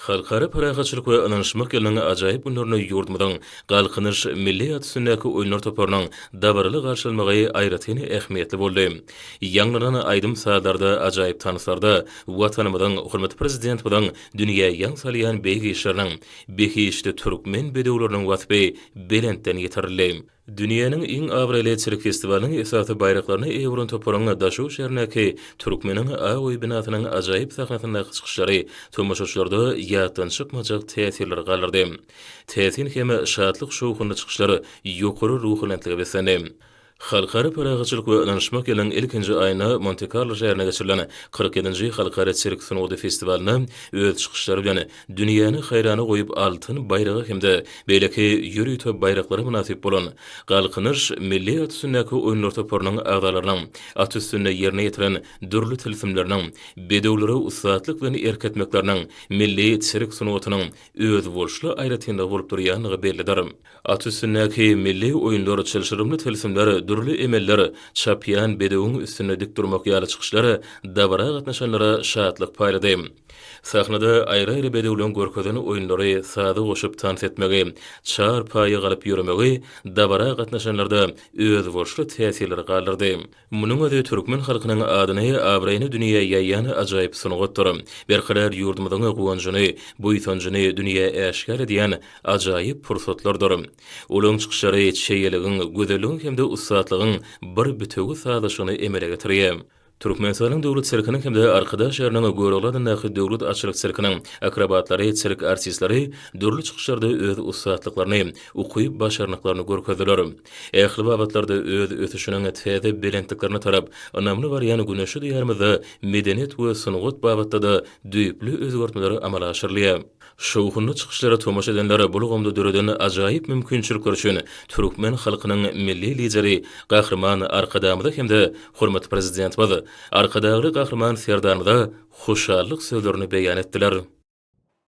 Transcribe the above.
Halkara parahatçylyk we ynanyşmak ýylynyň ajaýyp günlerinde ýurdumyzyň Galkynyş milli at üstündäki oýunlar toparynyň dabaraly garşy almagy aýratyn ähmiýetli boldy. Ýaňlanan aýdym-sazlarda, ajaýyp tanslarda Watanymyzyň, hormatly Prezidentimiziň dünýä ýaň salýan beýik işleriniň, behişdi türkmen bedewleriniň waspy belentden ýetirildi. Dünýäniň iň abraýly sirk festiwalynyň esasy baýraklaryna eýe bolan toparyň Daşoguz şäherindäki Türkmeniň ak öýi binasynyň ajaýyp sahnasyndaky çykyşlary tomaşaçylarda ýatdan çykmajak täsirleri galdyrdy. Täsin hem şatlyk-şowhunly çykyşlar ýokary ruhubelentlige beslendi. Halkara parahatçylyk we ynanyşmak ýylynyň ilkinji aýynda Monte-Karlo şäherinde geçirilen kyrk ýedinji Halkara sirk sungaty festiwalynda öz çykyşlary bilen Dünýäni haýrana goýup altyn baýraga hem-de beýleki ýörite baýraklara mynasyp bolan Galkynyş milli at üstündäki oýunlar toparynyň agzalarynyň at üstünde ýerine ýetiren dürli tilsimleriniň, bedewlere ussatlyk bilen erk etmekleriniň milli sirk sungatynyň özboluşly aýratynlygy bolup durýandygy bellidir. At üstündäki milli oýunlar, çylşyrymly tilsimler, dürli emeller, çapýan bedewiň üstünde dik durmak ýaly çykyşlar dabara gatnaşanlara şatlyk paýlady. Sahnada aýry-aýry bedewleň görkezen oýunlary, saza goşup tans etmegi, çar paýa galyp ýöremegi dabara gatnaşanlarda özboluşly täsirleri galdyrdy. Munuň özi türkmen halkynyň adyny, abraýyny dünýä ýaýýan ajaýyp sungatdyr. Berkarar ýurdumyzyň guwanjyny, buýsanjyny dünýä äşgär edýän ajaýyp pursatlardyr. Olaryň çykyşlary çeýeligiň, gözelligiň hem-de ussatlygyň bir bitewi sazlaşygyny emele getirýär. Türkmenistanyň Döwlet sirkiniň hem-de Arkadag şäheriniň Görogly adyndaky Döwlet atçylyk sirkiniň akrobatlary, sirk artistleri dürli çykyşlarda öz ussatlyklaryny, ukyp-başarnyklaryny görkezdiler. Ähli babatlarda öz ösüşiniň täze belentliklerine tarap ynamly barýan güneşli Diýarymyzda medeniýet we sungat babatda-da düýpli özgertmeler amala aşyrylýar. Şowhunly çykyşlara tomaşa edenler bu ulgamda döreden ajaýyp mümkinçilikler üçin türkmen halkynyň Milli Lideri Gahryman Arkadagymyza hem-de hormatly Prezidentimiz, Arkadagly Gahryman Serdarymyza hoşallyk sözlerini beýan etdiler.